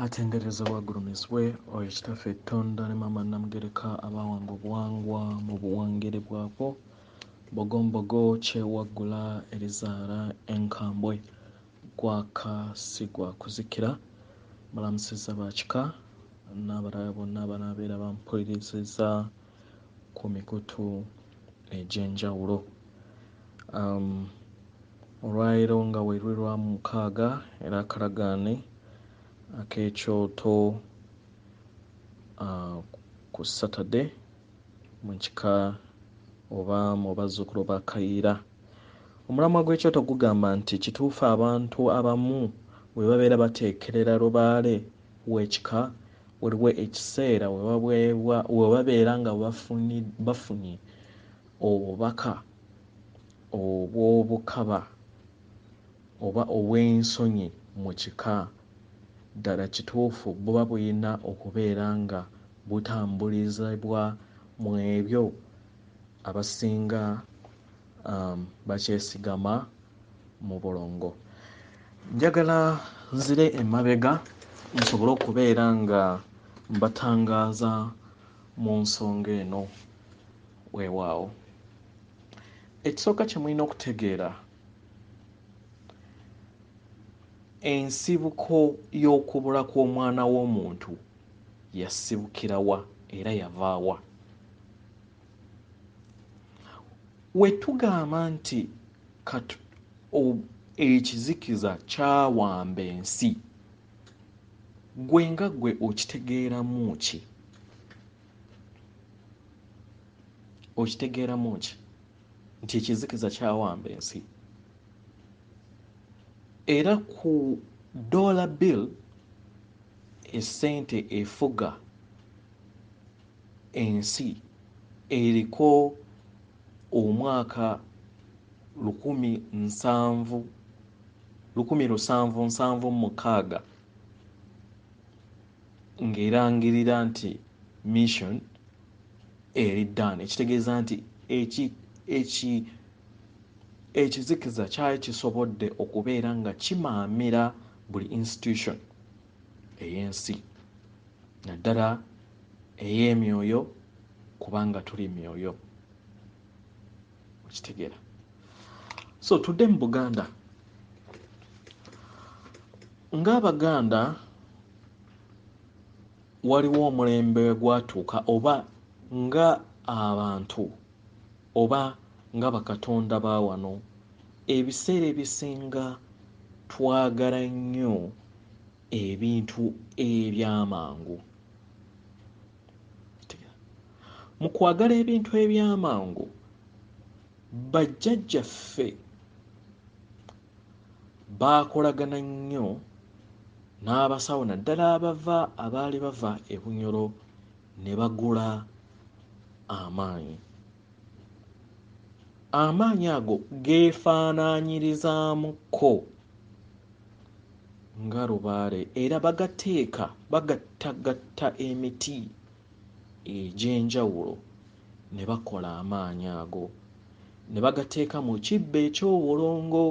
atenderezebwa agulumizibwe oyo kitaffe ettonda ne maama namugereka abaawanga obuwangwa mu buwangere bwabwo bogombogo kyewaggula erizaala enkambwe gwaka si gwa kuzikira balamusizza ba kika n'abalala bonna abanaabeera bampuliriziza ku mikutu egy'enjawulo um, olwaleero nga werwe lwa mukaaga era akalagaane ak'ekyoto uh, ku saturday mu kika oba mu bazzukulu ba kayiira omulamwa gw'ekyoto gugamba nti kituufu abantu abamu bwe babeera bateekerera lubaale w'ekika waliwo ekiseera we babeera nga bafunye obubaka obw'obukaba oba obw'ensonyi mu kika. Ddala kituufu buba bulina okubeera nga butambulizibwa mu ebyo abasinga bakyesigamako? mu bulongo njagala nzire emabega nsobole okubeera nga mbatangaaza mu nsonga eno weewaawo ekisooka kye mulina okutegeera ensibuko y'okubula kw'omwana w'omuntu yasibukirawa era yavaawa wetugamba nti kat ekizikiza kyawamba ensi gwe nga gwe okitegeeramu ki okitegeeramu ki nti ekizikiza kyawamba ensi era ku dollar bill esente efuga ensi eriko omwaka lukumi nsanvu lukumi lusanvu nsanvu mukaaga ng'erangirira nti mission eri ddan ekitegeeza nti ekizikiza kyali kisobodde okubeera nga kimaamira buli institution ey'ensi naddala ey'emyoyo kubanga tuli myoyo okitegeera so tudde mu buganda ng'abaganda waliwo omulembe gwatuuka oba nga abantu Oba, nga bakatonda ba wano, ebiseera ebisinga twagala nnyo ebintu eby'amangu. Okitegera? Mu kwagala ebintu eby'amangu, bajjajjaffe baakolagana nnyo n'abasawo naddala abava abaali bava e Bunyoro ne bagula amaanyi. Amaanyi ago geefaanaanyirizaamuko nga lubaale era bagateeka bagattagatta emiti egy'enjawulo ne bakola amaanyi ago ne bagateeka mu kibbo eky'obulongo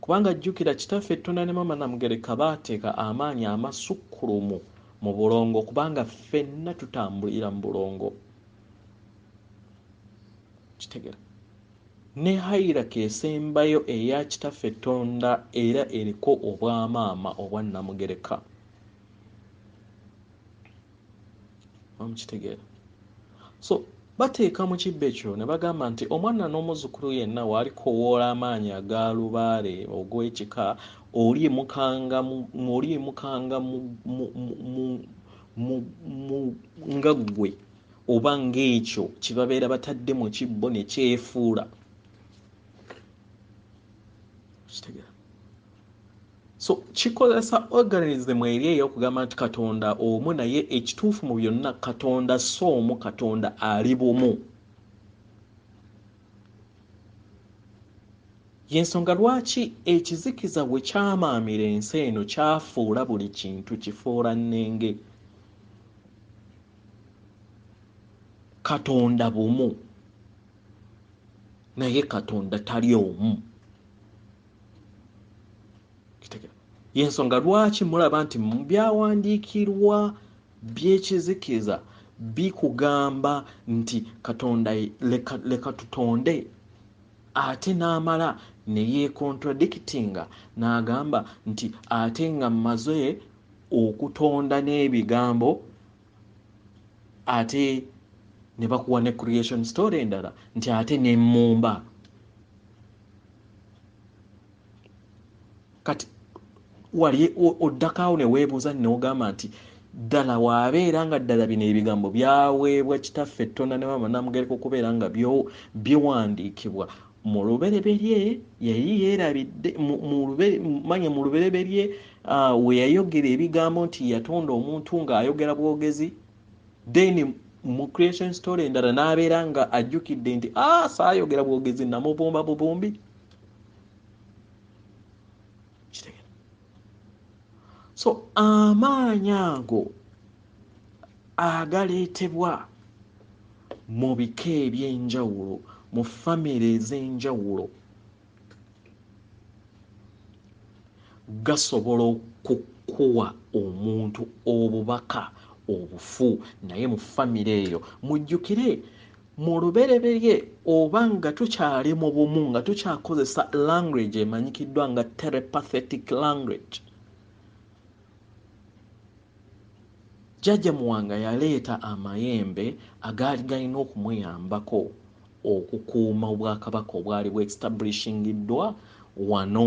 kubanga jjukira kitaffe Tonda ne Maama Namugereka baateeka amaanyi amasukkulumu mu bulongo kubanga ffenna tutambulira mu bulongo kitegera ne hayiraka esembayo eya kitaffe tonda era eriko obwamaama obwa namugereka mukitegeera so bateeka mu kibbo ekyo ne bagamba nti omwana n'omuzzukulu yenna w'alikowoola amaanyi aga lubaale ogw'ekika olyimukanga olyimukanga nga ggwe oba ng'ekyo kye babeera batadde mu kibbo ne kyefuula so kikozesa organism eri eyokugamba nti katonda omu naye ekituufu mu byonna katonda si omu katonda ali bumu yensonga lwaki ekizikiza bwe kyamaamira ensi eno kyafuula buli kintu kifuula nnenge katonda bumu naye katonda tali omu yensonga lwaki mulaba nti mubyawandiikirwa byekizikiza bikugamba nti katonda leka, leka tutonde ate n'amala neyecontradictinga n'agamba nti ate nga mmaze okutonda n'ebigambo ate ne bakuwa ne creation story endala nti ate ne mumba kati wali oddakaawo ne weebuuza neogamba nti ddala waabeera nga ddala bino ebigambo byaweebwa kitaffe ettonda ne maama namugereka okubeera nga biwandiikibwa mu lubereberye yali yeerabidde manya mu lubereberye ah, we yayogera ebigambo nti yatonda omuntu ng'ayogera bwogezi then mu creation story endala n'abeera nga ajjukidde nti a ah, saayogera bwogezi namubumba bubumbi so amaanyi ago agaleetebwa mu bika eby'enjawulo mu famire ez'enjawulo gasobola okukuwa omuntu obubaka obufu naye mu famire eyo mujjukire Mu lubereberye oba nga tukyali mu bumu nga tukyakozesa language emanyikiddwa nga telepathetic language, Jjajja Muwanga yaleeta amayembe agaali galina okumuyambako okukuuma Obwakabaka obwali bwestablishingiddwa wano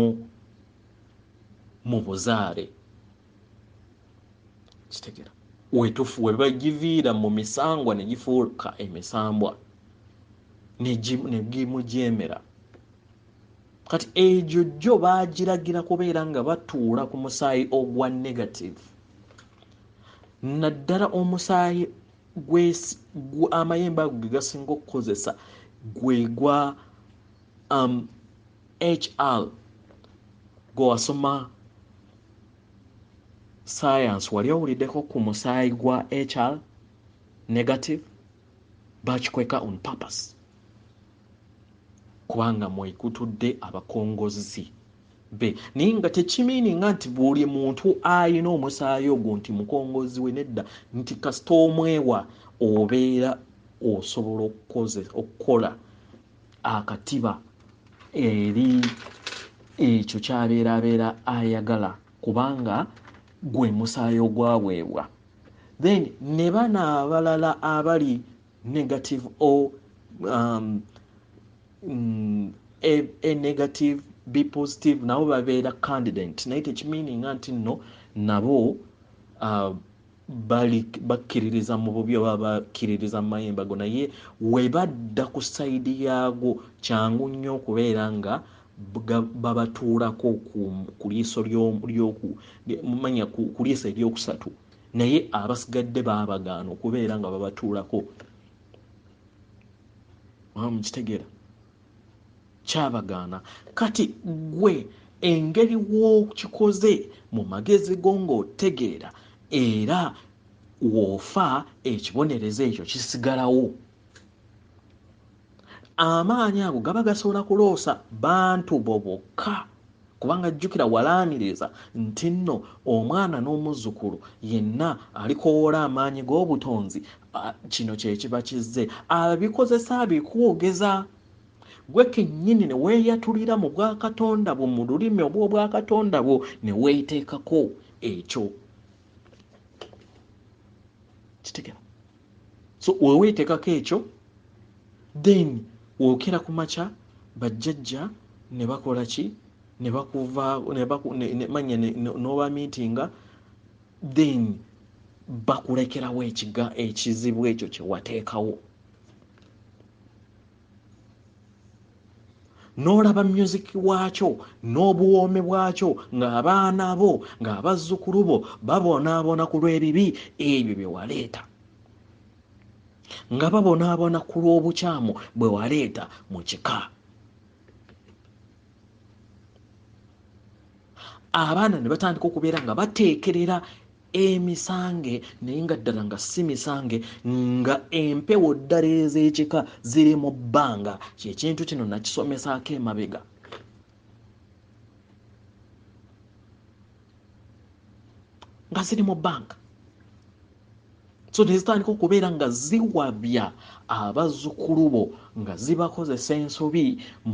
mu buzaale. kitegera wetufu webagiviira mu misangwa ne gifuuka emisambwa ne gimujeemera kati egyo jjo bagiragira kubeera nga batuula ku musaayi ogwa negative naddala omusaayi amayembe ago ge gasinga okukozesa gwe gwa um, hr gwe wasoma science wali owuliddeko ku musaayi gwa hr negative bakikweka on purpose kubanga mwekutudde abakongozzi be naye nga tekimiininga nti buli muntu alina omusaayi ogwo nti mukongozzi we nedda nti kasita omwewa obeera osobola okukola akatiba eri ekyo kyabeera abeera ayagala kubanga gwe musaayi ogwaweebwa then ne bana abalala abali negative o um, mm, a, a negative be positive nabo babeera candidate naye tekimininga nti nno nabo uh, bakkiririza mu bubi oba bakkiririza mu mayemba go naye we badda ku sayidi yaago kyangu nnyo okubeera nga babatuulako ku liiso lyomanya ku liiso eryokusatu naye abasigadde baabagaana okubeera nga babatuulako mukitegeera kyabagaana kati gwe engeri w'okikoze mu magezi go ng'otegeera era woofa ekibonerezo ekyo kisigalawo amaanyi ago gaba gasobola kuloosa bantu bo bokka kubanga jjukira walaaniriza nti nno omwana n'omuzzukulu yenna alikowoola amaanyi g'obutonzi kino kye kiba kizze abikozesa abikwogeza gwe kennyini ne weeyatulira mu bwakatonda bwo mu lulimi obw'obwakatonda bwo ne weeteekako ekyo kitegera so wewetekako ekyo then wokera ku makya bajjajja ne bakola ki ne bakuva ne baku ne, ne manya ne, ne, noba meetinga then bakulekerawo ekiga ekizibu ekyo kyewateekawo n'olaba music waakyo n'obuwoome bwakyo ng'abaana bo ng'abazzukulu bo babonabona ku lw'ebibi ebyo bye waleeta nga babonabona ku lw'obukyamu bwe waleeta mu kika abaana ne batandika okubeera nga bateekerera emisange naye nga ddala nga si misange nga empewo ddala ez'ekika ziri mu bbanga kyekintu kino nakisomesaako emabega nga ziri mu bbanga so nezitandika okubeera nga ziwabya abazzukulu bo nga zibakozesa ensobi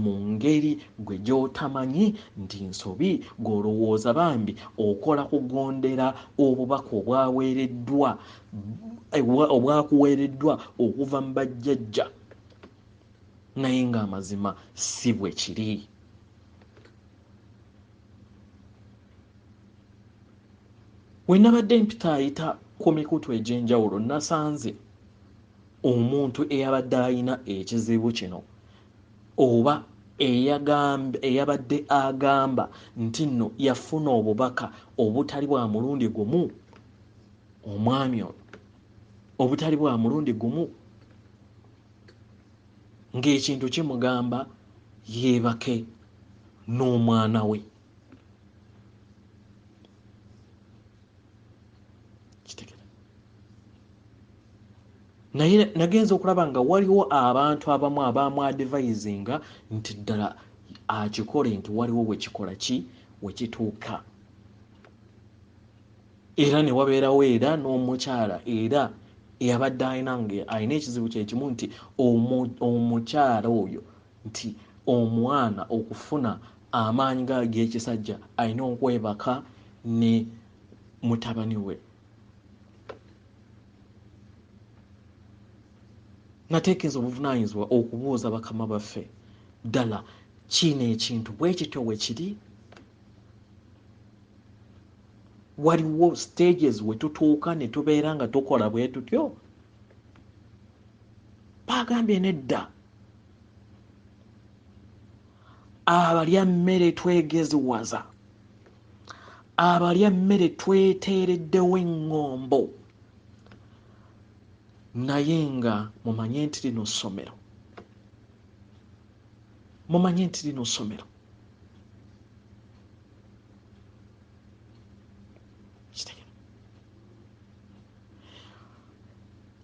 mu ngeri gwe gy'otamanyi nti nsobi gw'olowooza bambi okola kugondera obubaka obwaweereddwa obwakuweereddwa okuva mu bajjajja naye ng'amazima si bwe kiri we nabadde mpitaayita ku mikutu egy'enjawulo nasanze omuntu eyabadde alina ekizibu kino oba eyabadde agamba nti nno yafuna obubaka obutali bwa mulundi gumu omwami ono obutali bwa mulundi gumu ng'ekintu kimugamba yeebake n'omwana we naye nagenza okulaba nga waliwo abantu abamu abamwadivayizinga nti ddala akikole nti waliwo wekikola ki wekituuka era ne wabeerawo era n'omukyala era eyabadde alina nga alina ekizibu kyekimu nti omukyala oyo nti omwana okufuna amaanyi nga ag'ekisajja alina okwebaka ne mutabani we nateekeeza obuvunaanyizibwa okubuuza bakama baffe ddala kiino ekintu bwe kityo we kiri waliwo stages we tutuuka ne tubeera nga tukola bwe tutyo baagambye nedda abalya mmere twegeziwaza abalya mmere tweteereddewo eŋŋombo naye nga mumanye nti lino ssomero mumanye nti lino ssomero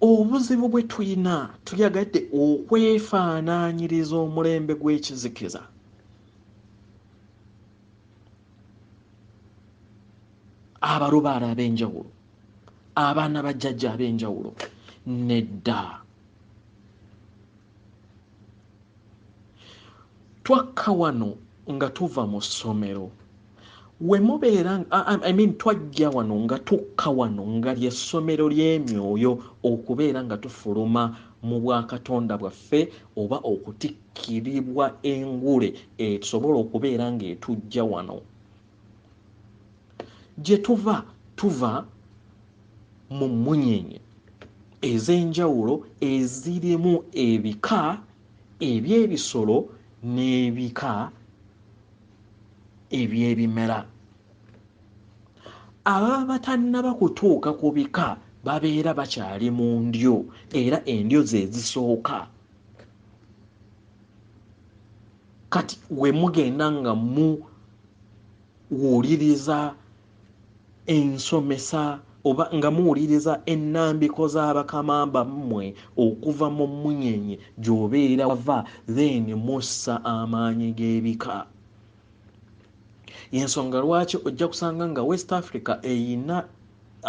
Obuzibu bwe tulina tuyagadde okwefaanaanyiriza omulembe gw'ekizikiza. Abalubaale ab'enjawulo, abaana ba jjajja ab'enjawulo, nedda. twakka wano nga tuva mu ssomero wemubeera I mean twajja wano nga tukka wano nga lyessomero ly'emyoyo okubeera nga tufuluma mu bwakatonda bwaffe oba okutikkiribwa engule esobola okubeera ng'etujja wano gye tuva tuva mu mmunyenye ez'enjawulo ezirimu ebika eby'ebisolo n'ebika eby'ebimera ababa batannaba kutuuka ku bika babeera bakyali mu ndyo era endyo ze zisooka kati we mugenda nga mu wuliriza ensomesa oba nga muwuliriza ennambiko z'abakama bammwe okuva mu munyenye gy'obeera wava then mussa amaanyi g'ebika yensonga lwaki ojja kusanga nga west africa eyina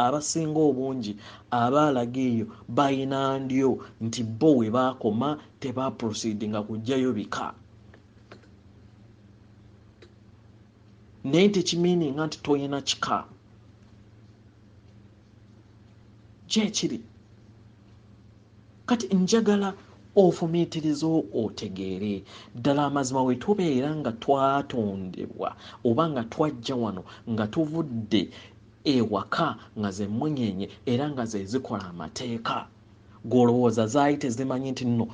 abasinga obungi abaalaga eyo balina ndyo nti bo we baakoma tebaproceedinga kujjayo bika naye tekimiininga nti toyina kika kyekiri kati njagala ofumiitiriza otegeere ddala amazima we tubeera nga twatondebwa oba nga twajja wano nga tuvudde ewaka nga zemmunyeenye era nga zezikola amateeka gwe olowooza zaali tezimanyi nti nno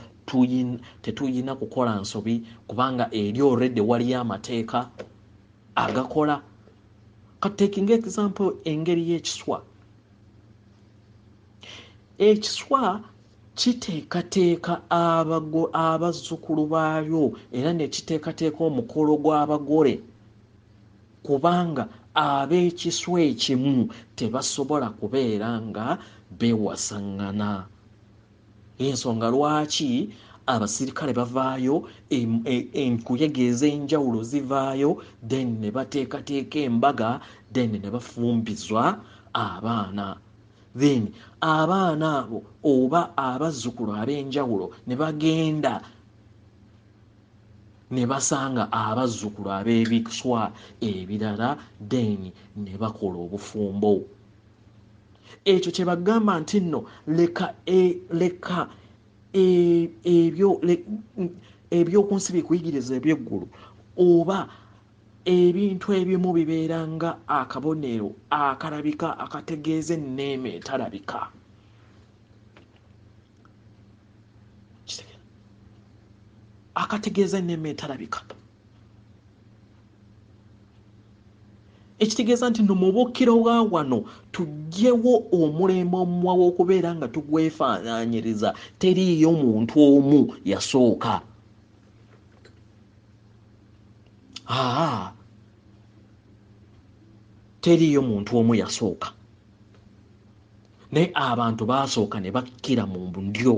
tetuyina kukola nsobi kubanga eri olredde waliyo amateeka agakola katekinga example engeri y'ekiswa ekiswa kiteekateeka abazzukulu baalyo era nekiteekateeka omukolo gw'abagole kubanga ab'ekiswa ekimu tebasobola kubeera nga beewasaŋŋana y'ensonga lwaki abasirikale bavaayo enkuyege e, ez'enjawulo zivaayo then ne bateekateeka embaga then ne bafumbizwa abaana then abaana abo oba abazzukulu ab'enjawulo ne bagenda ne basanga abazzukulu ab'ebiswa ebirala then ne bakola obufumbo ekyo kye bagamba nti nno leka e, leka e, ebyo eby'oku nsi bikuyigiriza eby'eggulu oba ebintu ebimu bibeera nga akabonero akalabika akategeeza enneema etalabika akategeeza enneema etalabika ekitegeeza nti no mubukiro wa wano tugyewo omulembe omuwa w'okubeera nga tugwefaananyiriza teriiyo muntu omu yasooka aa teriiyo muntu omu yasooka naye abantu baasooka ne bakkira mu ndyo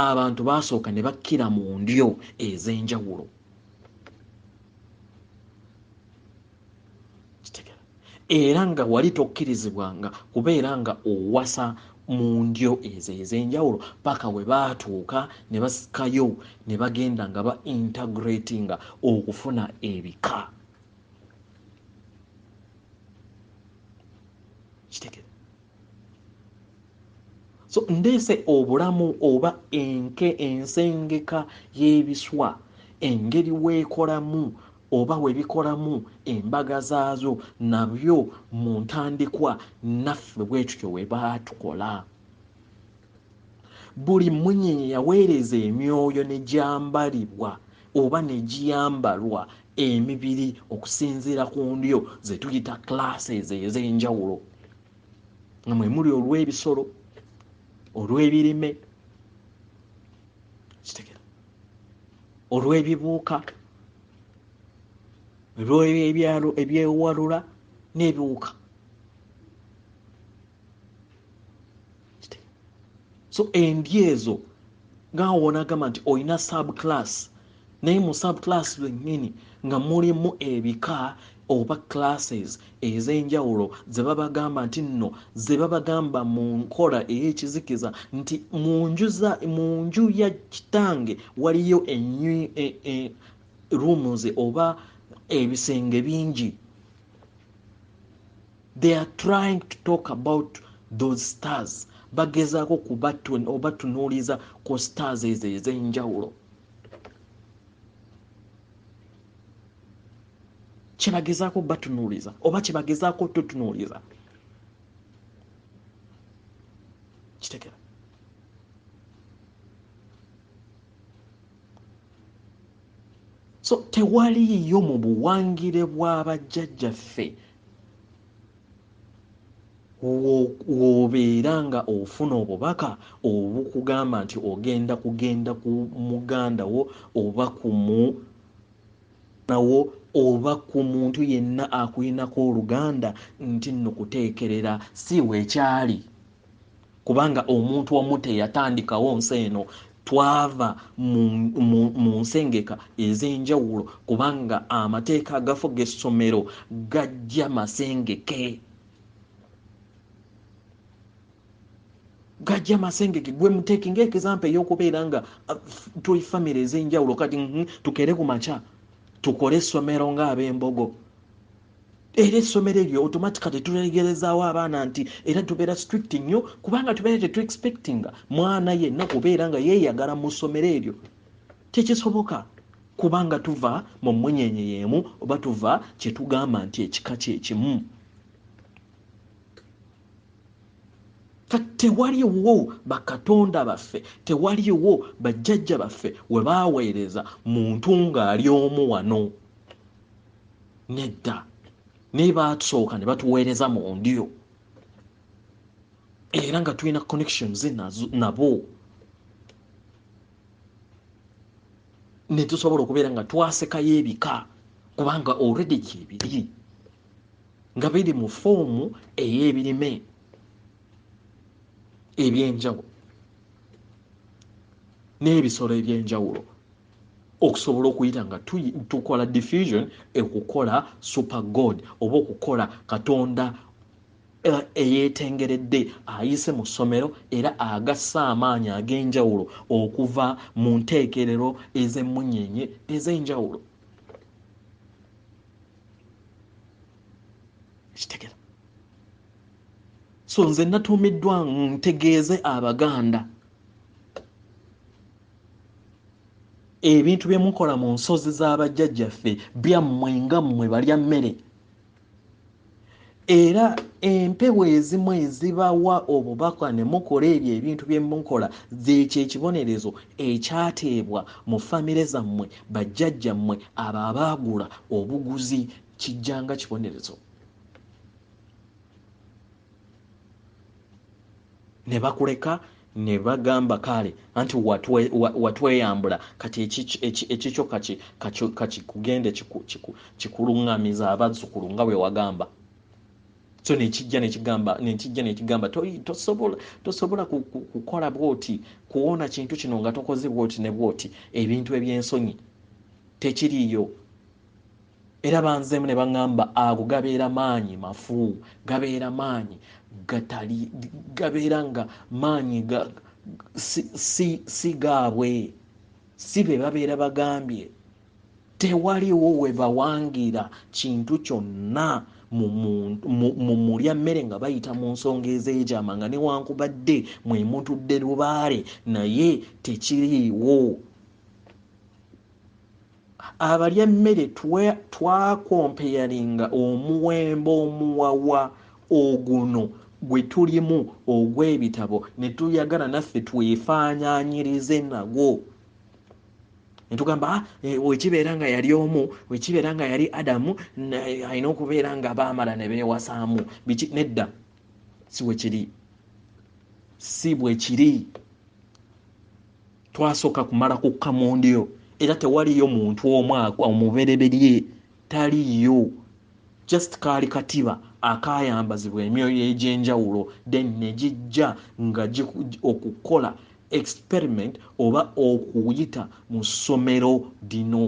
abantu baasooka ne bakkira mu ndyo ez'enjawulo era nga wali tokkirizibwanga kubeera nga owasa mu ndyo ezo ez'enjawulo paka we baatuuka ne basikayo ne bagenda nga ba integratinga okufuna ebika kitegere so ndeese obulamu oba enke ensengeka y'ebiswa engeri weekolamu oba webikolamu embaga zaazo nabyo mu ntandikwa naffe bwetutyo webaatukola buli mmunyenye yaweereza emyoyo ne gyambalibwa oba ne giyambalwa emibiri okusinziira ku ndyo ze tuyita classes ez'enjawulo nga mwe muli olw'ebisolo olw'ebirime kitegera olw'ebibuuka olw'ebyalo ebyewalula n'ebiwuka so endi ezo nga wonagamba nti olina subclass naye mu subclass lwennyini nga mulimu ebika oba classes ez'enjawulo ze babagamba nti nno ze babagamba mu nkola ey'ekizikiza nti mu nju za mu nju ya kitange waliyo enyu e, e, rooms oba ebisenge bingi They are trying to talk about those stars bagezaako kubatunuuliza ku stars ezo ez'enjawulo kyebagezaako batunuuliza oba kyebagezaako tutunuuliza kitegera so tewaliiyo mu buwangire bwa bajjajjaffe w'obeera nga ofuna obubaka obukugamba nti ogenda kugenda ku muganda wo oba ku munawo oba ku muntu yenna akulinako oluganda nti nno kuteekerera si wekyali kubanga omuntu omu teyatandikawo nsi eno twava mu nsengeka ez'enjawulo kubanga amateeka agafuga essomero gajja masengeke gajja masengeke gwe muteeki ngaekizampa ey'okubeera nga uh, tuli famiry ez'enjawulo kati tukere ku makya tukole essomero ng'ab'embogo era essomero eryo automatically tulegerezaawo abaana nti era tubeera strict nnyo kubanga tubeera tetu expectinga mwana yenna kubeera nga yeeyagala mu ssomero eryo tekisoboka kubanga tuva mu munyenye yeemu oba tuva kyetugamba nti ekika kyekimu tewaliwo bakatonda baffe tewaliwo bajjajja baffe webaaweereza muntu ng'ali omu wano nedda naye batusooka ne batuweereza mu ndyo era nga tulina connections nabo netusobola okubeera nga twasekayo ebika kubanga already gyebiri nga biri mu foomu ey'ebirime ebyenjawulo n'ebisolo ebyenjawulo okusobola okuyita nga tukola diffusion ekukola super god oba okukola katonda eh, eyetengeredde ayise mu ssomero era agassa amaanyi ag'enjawulo okuva mu nteekerero ez'emmunyenye ez'enjawulo kitegera so nze natuumiddwa ntegeeze abaganda ebintu bye mukola mu nsozi z'abajjajjaffe byammwe nga mmwe balya mmere era empewo ezimu ezibawa obubaka ne mukola ebyo ebintu bye mukola zeekyo ekibonerezo ekyateebwa mu famire zammwe bajjajjammwe abo abaagula obuguzi kijjanga kibonerezo ne bakuleka Nebagamba kaale anti watweyambula kati ekikyo kakikugende kikulungamize abazukulu nga bwewagamba so nekijja nekigamba nekijja nekigamba tosobola tosobola kukola bwoti kuwona kintu kino nga tokoze bwoti ne bwoti ebintu ebyensonyi tekiriyo Era banzeemu ne baŋŋamba ago gabeera maanyi mafu, gabeera maanyi gatali, gabeera nga maanyi ga, si, si, si gaabwe, si be babeera bagambye. Tewaliwo we bawangira kintu kyonna mu, mu, mu, mu mulya mmere nga bayita mu nsonga ez'ekyama, nga newankubadde mwe mutudde lubaale, naye tekiriiwo. abalya emmere twakompeyalinga omuwembo omuwawa oguno gwe tulimu ogw'ebitabo ne tuyagala naffe twefaananyirize nagwo ne tugamba ah, eh, wekibeera nga yali omu wekibeera nga yali adamu alina okubeera nga baamala ne beewasaamu biki nedda si wekiri si bwekiri Twasoka kumala kukka mundiro era tewaliyo muntu omu omubereberye taliyo just kaali katiba akayambazibwa emyoyo egyenjawulo then negijja nga okukola experiment oba okuyita mu ssomero lino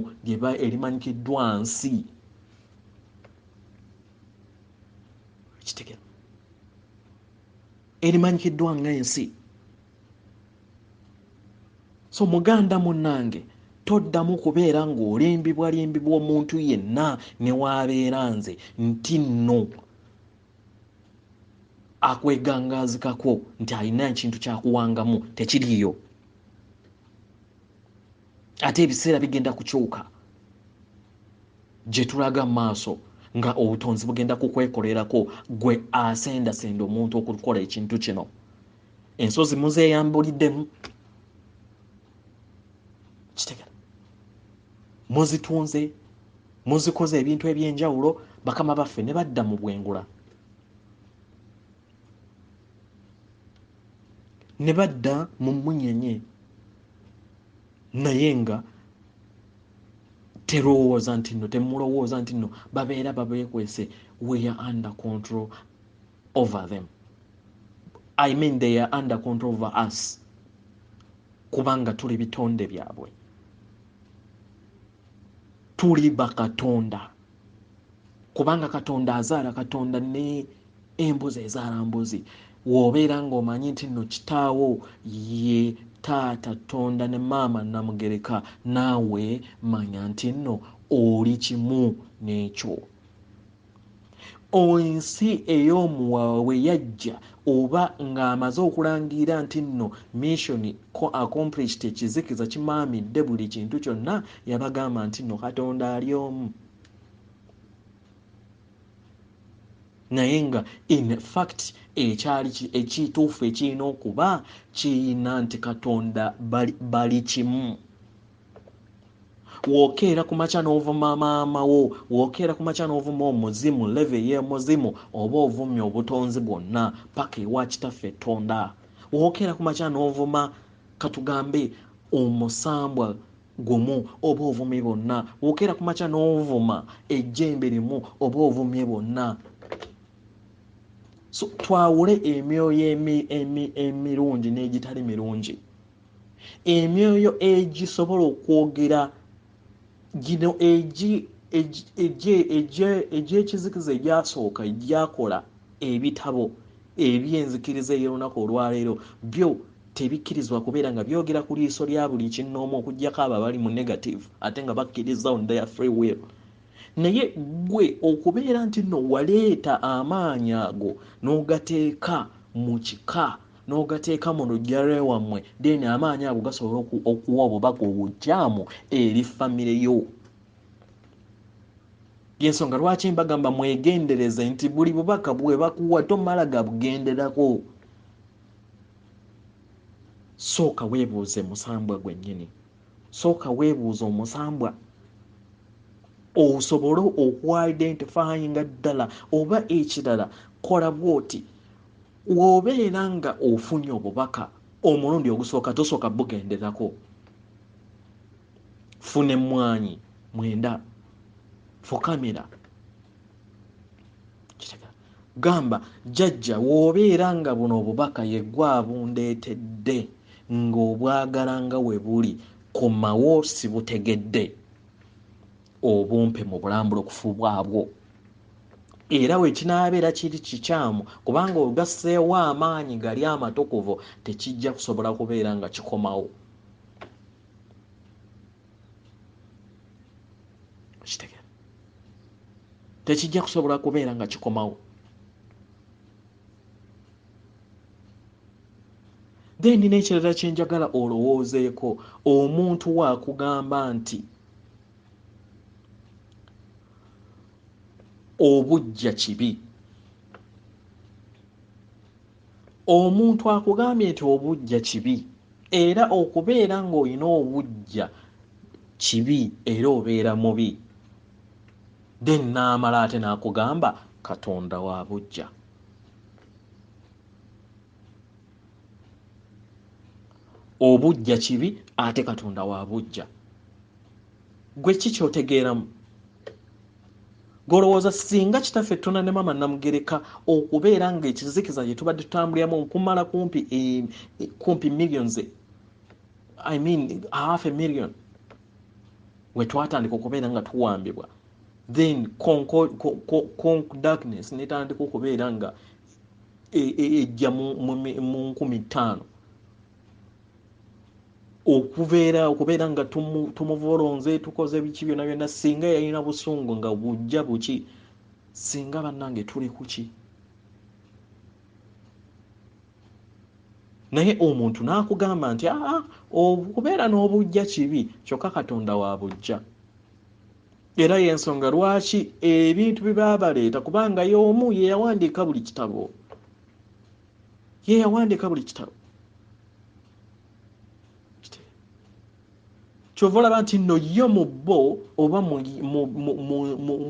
elimanyikiddwa nsi elimanyikiddwa nga ensi so muganda munnange toddamu kubeera ng'olimbibwalimbibwa omuntu yenna ne waabeera nze nti nno akwegangaazikako nti alina ekintu kyakuwangamu tekiriiyo ate ebiseera bigenda kukyuka gye tulaga mu maaso nga obutonzi bugenda kukwekolerako gwe asendasenda omuntu okukola ekintu kino ensozi muzeyambuliddemu kitegera muzitunze muzikoze ebintu ebyenjawulo bakama baffe ne badda mu bwengula ne badda mu munyenye naye nga terowooza nti nno temulowooza nti nno babeera babeekwese weya under control over them i mean they are under control over us kubanga tuli bitonde byabwe tuli bakatonda kubanga katonda azaala katonda ne embuzi ezaala mbuzi wobeera ngaomanyi nti no kitaawo ye taata tonda ne maama namugereka naawe manya nti nno oli kimu n'ekyo ensi ey'omuwawa bwe yajja oba ng'amaze okulangira nti nno missioni accomplished ekizikiza kimaamidde buli kintu kyonna yabagamba nti nno katonda ali omu naye nga in fact ekyali ekituufu ekirina okuba kiyina nti katonda bali kimu wokeera ku makya n'ovuma maama wo wokeera ku makya n'ovuma omuzimu leve ey'omuzimu oba ovumye obutonzi bwonna paka ewa kitaffe ettonda wokeera ku makya n'ovuma katugambe omusambwa gumu oba ovumye bonna wokeera ku makya n'ovuma ejjembe limu oba ovumye bonna so twawule emyoyo emirungi n'egitali mirungi Emyoyo egi sobola okwogera gino egi egy'ekizikiza egyasooka egyakola ebitabo eby'enzikiriza ey'olunaku olwaleero byo tebikkirizibwa kubeera nga byogera ku liiso lya buli kinnoomu okujjako abo abali mu negative ate nga bakkirizza on their free will. naye gwe okubeera nti no waleeta amaanyi ago n'ogateeka mu kika n'ogateeka mu lujja lwewammwe then amaanyi ago gasobola okuwa obubaka obukyamu eri famire yo yensonga lwaki mbagamba mwegendereze nti buli bubaka bwebakuwa tomala gabugenderako sooka weebuuze musambwa gwennyini sooka weebuuza omusambwa osobole okuidentifyinga ddala oba ekirala kola bwoti wobeera nga ofunye obubaka omulundi ogusooka tosooka bugenderako funa emmwanyi mwenda fukamira gamba jajja wobeera nga buno obubaka yegwe abundeetedde ng'obwagala nga we buli komawo sibutegedde obumpe mu bulambula okufu bwabwo era wekinaabeera kiri kikyamu kubanga ogasseewo amaanyi gali amatukuvu tekijja kusobola kubeera nga kikomawo okitegera tekijja kusobola kubeera nga kikomawo then n'ekirala kyenjagala olowoozeeko omuntu wakugamba nti obujja kibi Omuntu akugambye nti obuggya kibi era okubeera ng'olina obuggya kibi era obeera mubi then n'amala ate n'akugamba Katonda wa buggya. Obuggya kibi ate Katonda wa buggya. Gwe ki ky'otegeeramu? golowooza singa kitaffe tuna ne mama namugereka okubeera nga ekizikiza gye tubadde tutambuliramu okumala kumpi e, e, kumpi millions i mean half a million we twatandika okubeera nga tuwambibwa then conk darkness netandika okubeera nga ejja e, mu nkumi ttaano okubeera okubeera nga tumuvolonze tukoze biki byona byona singa yalina busungu nga bujja buki singa bannange tuli kuki naye omuntu n'akugamba nti aa okubeera n'obujja kibi kyokka katonda wa bujja era y'ensonga lwaki ebintu bye baabaleeta kubanga y'omu ye yawandiika buli kitabo ye yawandika buli kitabo kyova olaba nti no yo mu bo oba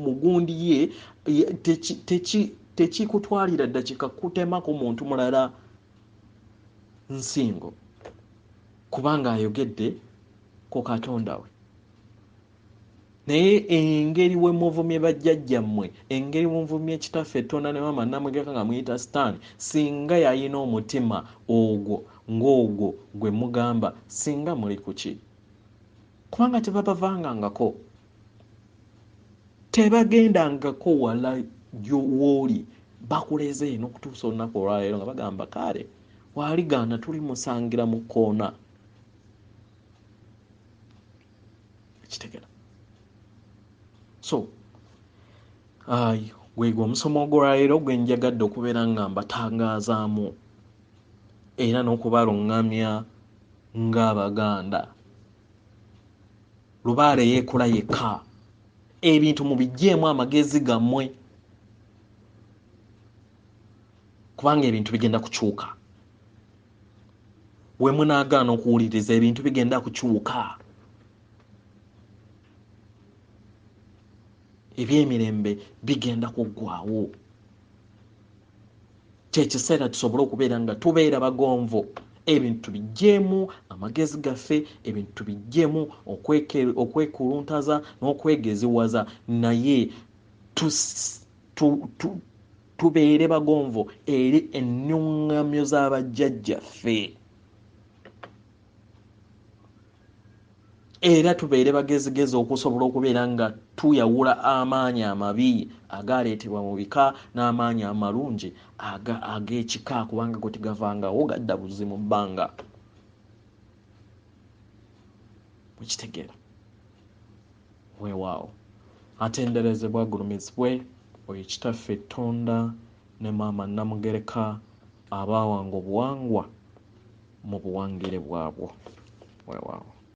mugundi ye tekikutwalira ddakika kutemako muntu mulala nsingo kubanga ayogedde ku katonda we naye engeri wemuvumye bajjajjammwe engeri muvumye kitaffe etonda ne maama namwegeka nga muyita sitaani singa yalina omutima ogwo ng'ogwo gwe mugamba singa muli kuki kubanga tebabavangangako tebagendangako wala wooli bakuleze eno okutuusa olunaku olwaleero nga bagamba kaale waaligaana tuli musangira mu kkoona kitegera so ayi gwegwe omusomo ogwolwaleero gwe njagadde okubeera nga mbatangazaamu era n'okubalungamya ng'abaganda lubaale yeekola yekka ebintu mubijjeemu amagezi gammwe kubanga ebintu bigenda kukyuka wemunagaana okuwuliriza ebintu bigenda kukyuka ebyemirembe bigenda kuggwawo kyekiseera tusobole okubeera nga tubeera bagonvu ebintu tubijjeemu amagezi gaffe ebintu tubijjeemu okwekuluntaza n'okwegeziwaza naye tu, tu, tubeere bagonvu eri ennuŋŋamyo za bajjajjaffe era tubeere bagezigezi okusobola okubeera nga tuyawula amaanyi amabi agaaleetebwa mu bika n'amaanyi amalungi ag'ekika kubanga gwe tegavangawo gadda buzi mu bbanga mukitegeera weewaawo atenderezebwe agulumizibwe oyo kitaffe tonda ne maama namugereka abaawanga obuwangwa mu buwangire bwabwo weewaawo